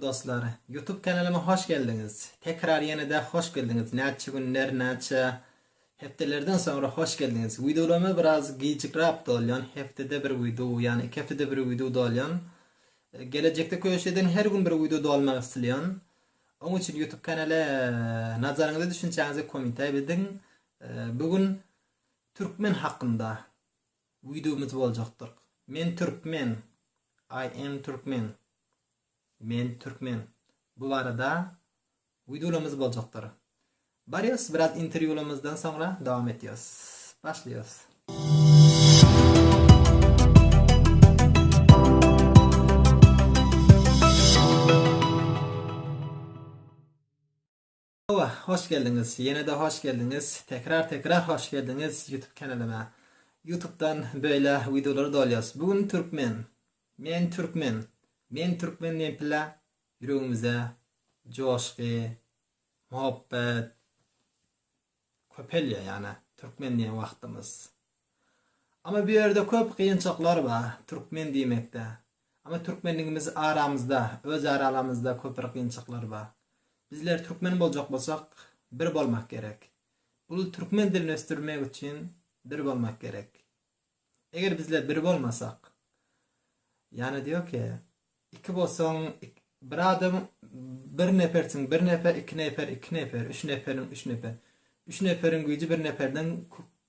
Dostlar YouTube kanalyma hoş geldiňiz. Tekrar ýene-de hoş geldiňiz. Näçe günler, näçe hepdelerden soňra hoş geldiňiz. Wideolaryma biraz gijikräp dolýan, hepdede bir wideo, ýani iki hepdede bir wideo dolýan. Gelejekde köşeden her gün bir wideo dolmagy isleýän. Oň üçin YouTube kanaly nazaryňyza düşünçäňizi komentariýa bildiň. Bu gün türkmen hakynda Wideomyz boljakdyr. Men türkmen, I am Turkmen, Men türkmen, bu barada wideolarymyz boljakdyr. Barýas biraz interwýularymyzdan soňra dowam etýas. Başlaýas. Hawa, hoş geldiňiz, ýene-de hoş geldiňiz, tekrar tekrar hoş geldiňiz YouTube kanalyma. Youtubedan beýle wideolary dolýas. Bu gün türkmen. Men türkmen. Men türkmen diýen pille ýüregimizde joşgy, muhabbet köpelýär ýa-da türkmen diýen wagtymyz. Ama bu ýerde köp gynçylyklar bar türkmen diýmekde. Ama türkmenligimiz aramyzda, öz aralamyzda köp bir gynçylyklar bar. Bizler türkmen boljak bolsak bir bolmak gerek. Bul türkmen dilini ösdürmek üçin bir bolmak gerek. Eger bizler bir bolmasak ýani diýo ki iki bolsaň bir adam bir nepersiň bir nepe iki neper iki neper üç neperiň üç neper üç neperiň güýji bir neperden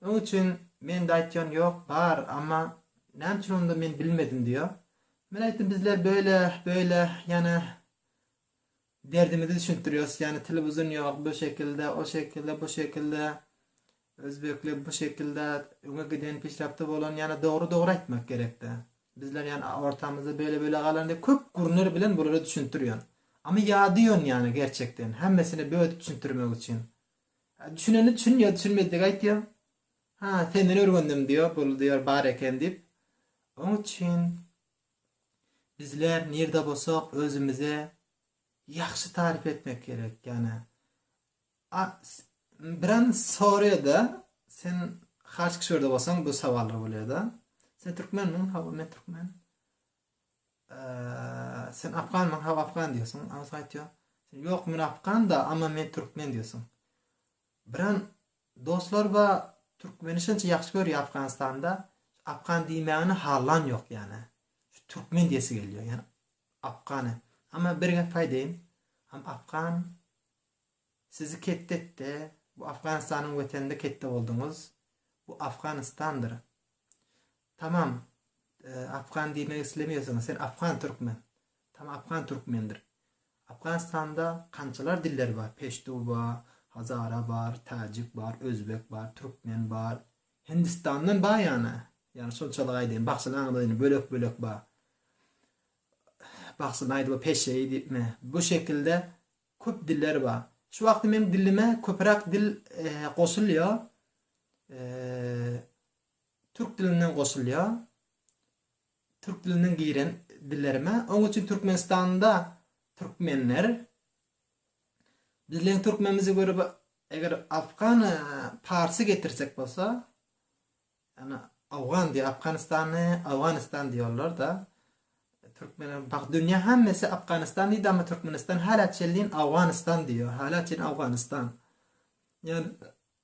Öň üçin mende aýtýan ýok, bar, amma näme üçin onda men bilmedim diýýär. Men aýtdym bizler böyle, böyle, ýane derdimizi düşündirýäs, ýane telewizon ýok, bu şekilde, o şekilde, bu şekilde, özbekler bu şekilde öňe giden, peşrapda bolan, ýane dogry dogry aýtmak gerekde. Bizler ýane ortamyzda böyle böyle galan diýip köp gürnür bilen bulara düşündirýän. Amma ýadýan ýane gerçekden, hemmesini bödüp düşündirmek üçin. Düşüneni çün ýa düşünmedigi aýtýa. Ha, senden öwrendim diýýär, bul diýýär bar eken diýip. Oň üçin bizler nirde bolsak özümize ýagşy taryp etmek gerek. Ýani biran soraýada sen has kişwerde bolsaň bu sawallar bolýada. Sen türkmenmiň? Hawa men türkmen. Sen afganmyň hawa afgan diýýärsiň aňsat aýtýar sen ýok men afganda amma men türkmen diýýärsiň biran dostlar ba türkmeni şunça ýagşy görýär afganistanda afgan diýmäni hallan ýok ýane şu türkmen diýesi gelýär ýane afgany amma bir gep aýdaýyn am afgan sizi ketdi etdi bu afganistanyň weteninde ketdi bolduňyz bu afganistandyr Tamam Afgan diýmek islemeýärsiňiz sen Afgan Türkmen. Tam Afgan Türkmendir. Afganistanda kançalar diller bar Peştu bar, Hazara bar, Tajik bar, Özbek bar, Türkmen bar, Hindistandan bar ýana. Ýani şonçalyk aýdaýyn bagşyny aňladyn bölek bölek bar. Bagşyny aýdyba Peşeýi diýipmi bu şekilde köp diller bar. Şu wagty meň dilime köpürak dil goşulýa. Türk dilinden goşulýar. Türk dilinden giren dillerime. Oň üçin Türkmenistanda türkmenler bizleň türkmenimize göre bu eger afgan parsy getirsek bolsa ýa-ni awgan diýip Afganistany Awganistan diýýärler-de. Türkmenler bak dünýä hemmesi Afganistan diýdi amma Türkmenistan hälä çenli Awganistan diýýär. Hälä çenli Awganistan. Ýa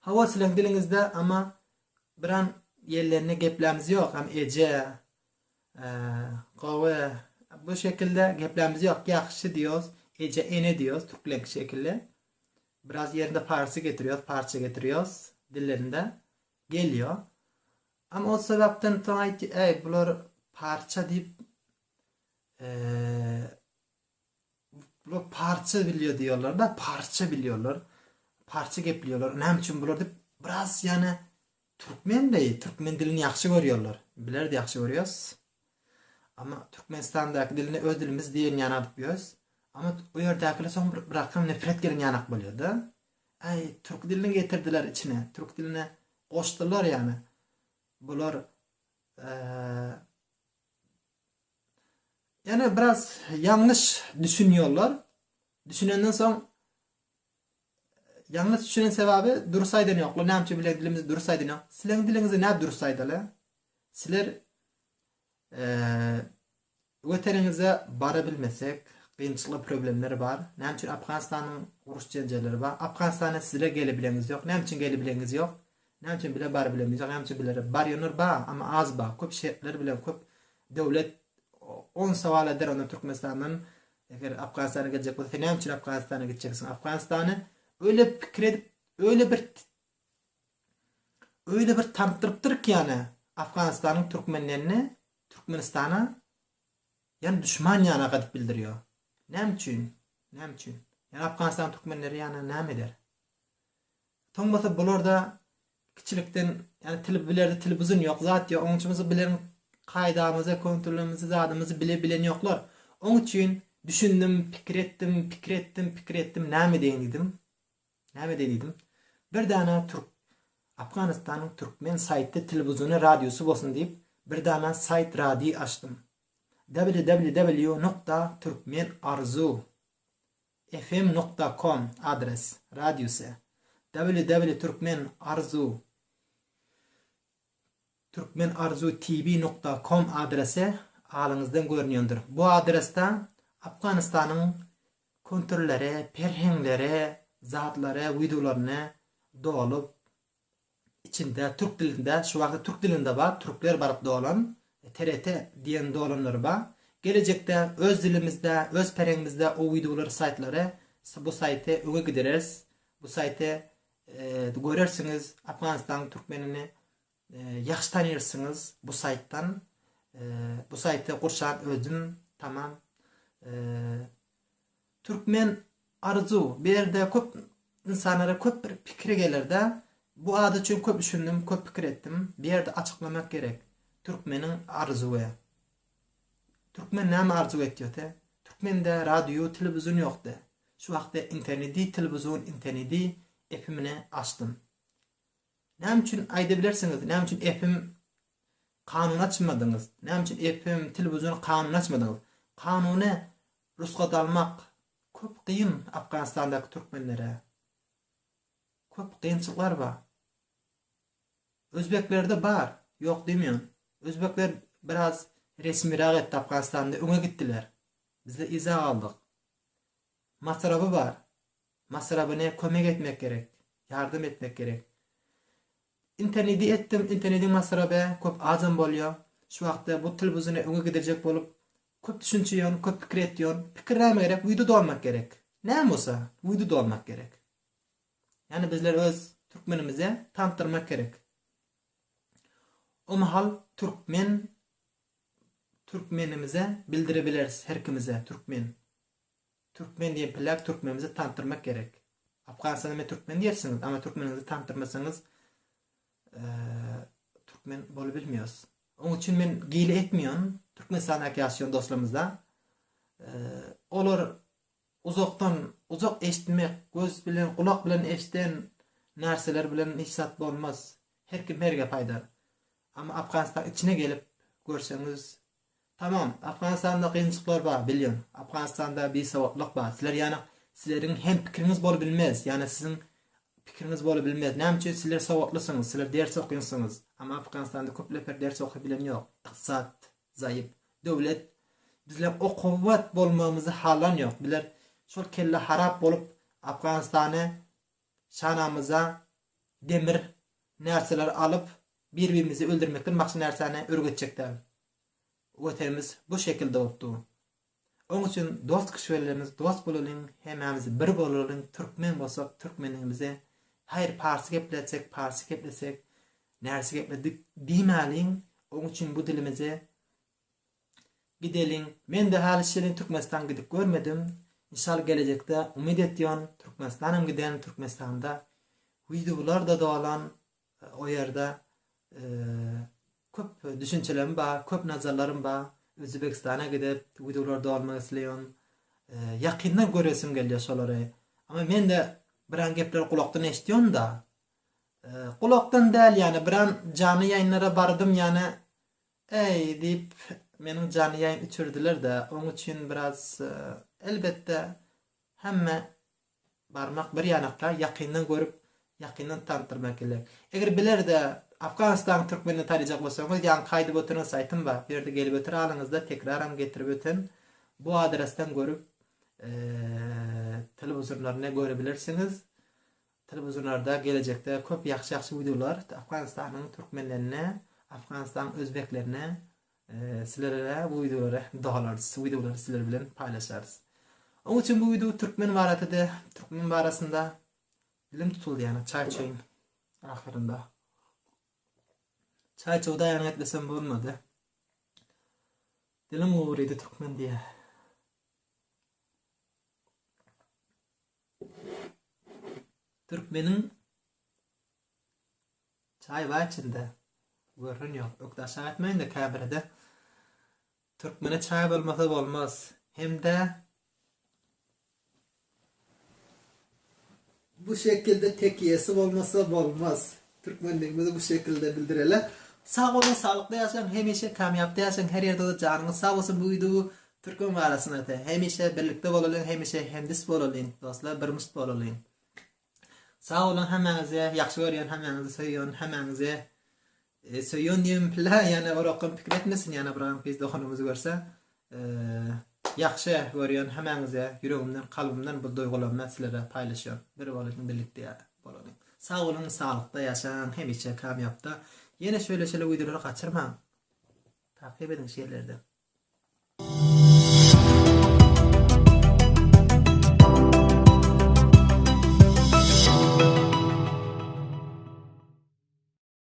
Hawa siziň diliňizde ama biram ýellenli geplämiz ýok hem eje gowy bu şekilde geplämiz ýok ýahşy diýos eje ene diýos türklenki şekilli biraz ýerinde parsy getirýos parça getirýos dillerinde gelýo am o sebäpden soň aýt äý bular parça diýip Bular parsça bilýär diýýärler-de, parsça bilýärler, parsça geplýärler. Näme üçin bular diýip, biraz ýane türkmen deý, türkmen dilini ýagşy görýärler. Bizler-de ýagşy görýäs. Amma Türkmenistandaky dilini öz dilimiz diýen ýaly alyp ýörüs. Amma o ýerdäkiler soň bir birakam nepret gelen ýanak bolýar-da. Äý, türk dilini getirdiler içine, türk diline goşdular ýane. Bular, eee, Ýöne biraz ýalňyş düşünýärler. Düşünenden soň ýalňyş düşünen sebäbi durus aýdan ýoklar. Näme üçin bileň dilimizi durus aýdan ýok? Sileň diliňizi nädip durus aýdaly? Siler Weteniňize bara bilmesek, gynçylyk problemler bar. Näme üçin Afganistanyň uruş-jenjelleri bar? Afganistana sizler gelebileňiz ýok. Näme üçin gelebileňiz ýok? Nämçe bile bar bilemizok nämçe bilere bar ýöner ba ama az ba köp şertler bilen köp döwlet on sowal eder onda türkmenistandan eger afganistana geljek bolsa sen näme üçin afganistana gitjeksiň afganistany öýle pikir edip öýle bir öýle bir tanypdyrypdyr ki ýane afganistanyň türkmenlerini türkmenistana ýane duşman ýana gadyp bildirýo näme üçin näme üçin ýane afganistan türkmenleri ýana näme eder Soň bolsa bularda kiçilikden ýani tili bilerdi tili buzun ýok zat ýok oň üçin bolsa bilen kaýdamyzy kontrolymyzy zadymyzy bile bilen ýoklar oň üçin düşündim pikir etdim pikir etdim pikir etdim näme edeýin diýdim näme edeýin diýdim bir dana türk Afganistanyň türkmen saýty tili buzuny radiosy bolsun diýip bir dana saýt radi açdym www nokta türkmen arzu FM nokta kom adres radiusy ww türkmen arzuw Türkmen arzuw TV nokta kom adresy alyňyzdan görünýändir. Bu adresde Afganystanyň küntirleri, perheňleri, zatlary, wideolaryny dolup içinde türk dilinde şu wagta türk dilinde bar türkler baryp dolan TRT diýen dolanlary ba gelejekde öz dilimizde öz pereňimizde o wideolar saýtlary bu saýty öňe gidereris bu saýty görersiňiz Afganistanyň türkmenini ýagşy tanyrsňyz bu saýtdan bu saýty gurşan özüm tamam Türkmen Arzu berde köp insanlara köp bir pikiri gelerde bu ady üçin köp üşindim köp pikir etdim berde açyklamak gerek Türkmeniň Arzuwe Türkmen näme arzuw etýote Türkmende radyu telewizun ýokde şu wagtde internedi telewizun internedi epimine açdym Näme üçin aýdybilersiňiz, näme üçin FM kanuny açmadyňyz, näme üçin FM telewiziony kanuny açmadyňyz? Kanuny rusgat almak köp kyn Afganistandaky türkmenlere. Köp kynçylyklar bar. Özbeklerde bar, ýok diýmeýän. Özbekler biraz resmirak etdi Afganistanda öňe gitdiler. Bizde yza galdyk. Masrafy bar. Masrabyny kömek etmek gerek. Ýardam etmek gerek. Internedi etdim, internediň masraby köp azam bolýar. Şu wagtda bu til buzyny öňe gidirjek bolup köp düşünçe ýon, köp pikir etýon. Pikir näme gerek? Wido dolmak gerek. Näme bolsa, wido dolmak gerek. Ýani bizler öz türkmenimize tanydyrmak gerek. O mahal türkmen türkmenimize bildirebileris, her kimize türkmen. Türkmen diýen pläk türkmenimizi tanitdirmek gerek. Afganistanda men türkmen diýersiňiz, ama türkmeniňizi tanitdirmeseňiz türkmen bolup bilmios. Oň üçin men gile etmion Türkmenistandaky ýaşaýan dostlarymyzda. Olar uzakdan uzak eşitmek, göz bilen, gulak bilen eşiden närseler bilen hiç zat bolmaz. Her kim her gep aýdar. Ama Afganistan içine gelip görseňiz Tamam Afganistanda kynçylyklar bar bilýän Afganistanda bisawatlyk bar sizler ýana sizleriň hem pikiriňiz bolup bilmez ýana siziň pikiriňiz bolup bilmez näme üçin sizler sawatlysyňyz sizler ders okyňsyňyz ama Afganistanda köp neper ders okyp bilen ýok ykdysat zaýyp döwlet bizler okuwat bolmagymyzy halan ýok bizler şol kelle harap bolup Afganistany Çanamyza demir närseler alyp, bir-birimizi öldürmekden başga närsäni örgetjek däl. Watanymyz bu şekil dogupdy. Oň üçin dost kişilerimiz dost bolalyň, hemmämiz bir bolalyň, türkmen bolsak türkmenligimizi, haýyr parsy gepletsek parsy geplesek, närse gepledik diýmäliň, oň üçin bu dilimizi Gideliň. Mende haly şirin Türkmenistan gidip görmedim. Inşal gelejekde umyt etyon Türkmenistanam giden Türkmenistanda wideolar da dolan o ýerde köp düşünçelerim ba köp nazarlarym ba Özübekistana gidip wideolar dolmak isleyon ýakyndan göresim gelýär şolary ama mende biran gepleri gulakdan eşityon da gulakdan däl ýane biran janly ýaýynlara bardym ýane Äý, diýip, meniň janyýaýyn içirdiler-de, oň üçin biraz, elbetde, hemme barmak bir ýanakda, ýakyndan görüp, ýakyndan tanydyrmak gerek. Eger biler-de, Afganystanyň türkmenini tanaýjak bolsaňyz, ýaňky aýdyp oturan saýtym bar, bu ýerde gelip oturalyňyzda, tekraram getirip öten, bu adresden görüp, telewizorlaryny görebilersiňiz. Telewizorlarda gelejekde köp ýagşy ýagşy wideolar Afganistanyň Türkmenlerine Afganistanyň Özbeklerine Silerere bu wideolary dogalarys şu wideolary siler bilen paýlaşarys Oň üçin bu wideo Türkmen baratede Türkmen barasynda Dilim tutuldy ýana çaý çeýin ahyrynda Çaý çowdaýanyň etmesem bolmady Dilim gowurydy Türkmen diýä. Türkmeniň çaý bar içinde. Görün yok. Ökde aşağı etmeyin de kabirede. Türkmene çay olmasa olmaz. Hem de bu şekilde tekiyesi olmasa olmaz. Türkmenligimizi bu şekilde bildireli. Sag boluň saglykda ýaşaň hemişe kamýapda ýaşaň her ýerde we janyňyz sag bolsun bu wideowy Türkmen barasyna ete hemişe birlikde bolalyň hemişe hemdist bolalyň dostlar birmst bolalyň sag boluň hemmäňizi ýagşy görýän hemmäňizi söýýän hemmäňizi e, söýýän diýen pilla ýana orakam pikir etmesin ýana bir gyz doganymyzy görse Ýagşy görýän hämäňize ýüregimden kalbymdan bu duýgularymdan sizlere paýlaşýan bir boluň birlikde boluň sag boluň saglykda ýaşaň hemişe kamýapda ýene şöyle şöyle wideolary gaçyrmaň takyp ediň şeýlerde.